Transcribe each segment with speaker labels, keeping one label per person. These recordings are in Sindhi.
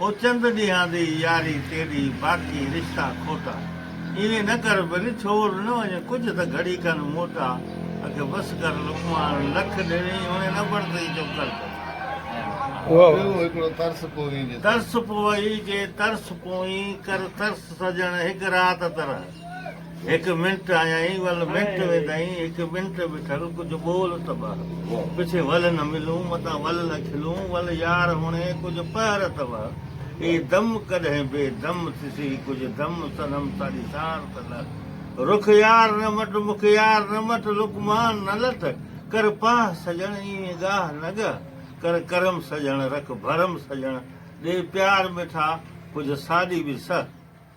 Speaker 1: او چند ڏينهان دي ياري تيڏي، باقي رشتا کوٽا. ايئن نه ڪر ڀل، ڇوڙ نه وڃ ڪجهه ته گهڙي ڪن موٽا. اکي بس ڪر لقمان، لک ڏيڻي هوڻي نه برتئي چپ ڪر ڀل. ٻيو هڪڙو ترس پوئين جي ترس. ترس پوئين جي ترس پوئين ڪر ترس سڄڻ هڪ رات ترح. هڪ منٽ آيائين ول منٽ ويندائين هڪ منٽ بيٺل ڪجهه ٻول ته ٻه پڇي ول نه ملون متان ول نه کلون ول يار هڻي ڪجهه پهر ته ٻه اي دم ڪڏهن بي دم ٿيسي ڪجهه دم سنم ساڙي سار ته نه رک يار نه مٽ مک يار نه مٽ لڪ مان نه لٽ ڪر پاهه سڄڻ ايوين ڳاهه نه ڳهه ڪر ڪرم سڄڻ رک ڀرم سڄڻ ڏي پيار مٺا ڪجهه ساڏي به سهه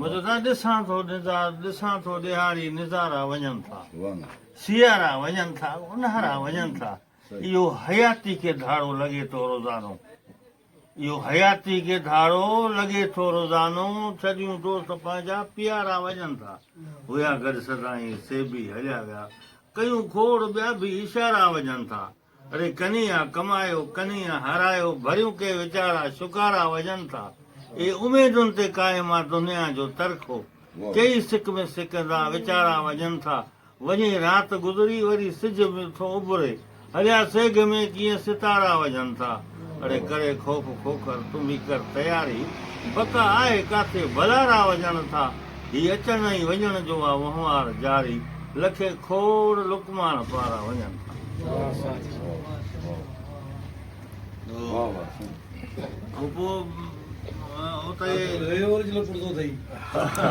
Speaker 1: مددا ڏسان ٿو نظار ڏسان ٿو ڏيهاڙي نظارا وڃن ٿا سيارا وڃن ٿا اونهارا وڃن ٿا اهو حياتي کي ڌاڙو لڳي ٿو روزانو اهو حياتي کي ڌاڙو لڳي ٿو روزانو ڇڏيون دوست پنهنجا پيارا وڃن ٿا هيا گڏ سدائين سي به هليا ويا ڪيون کوڙ ٻيا به اشارا وڃن ٿا ري ڪنيا ڪمايو ڪنيا هارايو ڀريون ڪي ويچارا شڪارا وجهن ٿا اي اميدن تي قائم آ دنيا جو ترخو ڪيئي سڪ ۾ سڪندا ويچارا وجهن ٿا وڃي رات گذري وري سج به ٿو اڀري هليا سيگهه ۾ ڪيئن ستارا وجهن ٿا. اڙي ڪري خوف کوکر تون به ڪر تياري بقا آهي ڪاٿي ڀلا راهه وڃڻ ٿا هي اچڻ ۽ وڃڻ جو آ وهنوار جاري لکي کوڙ لقمان پارا وڃن ٿا.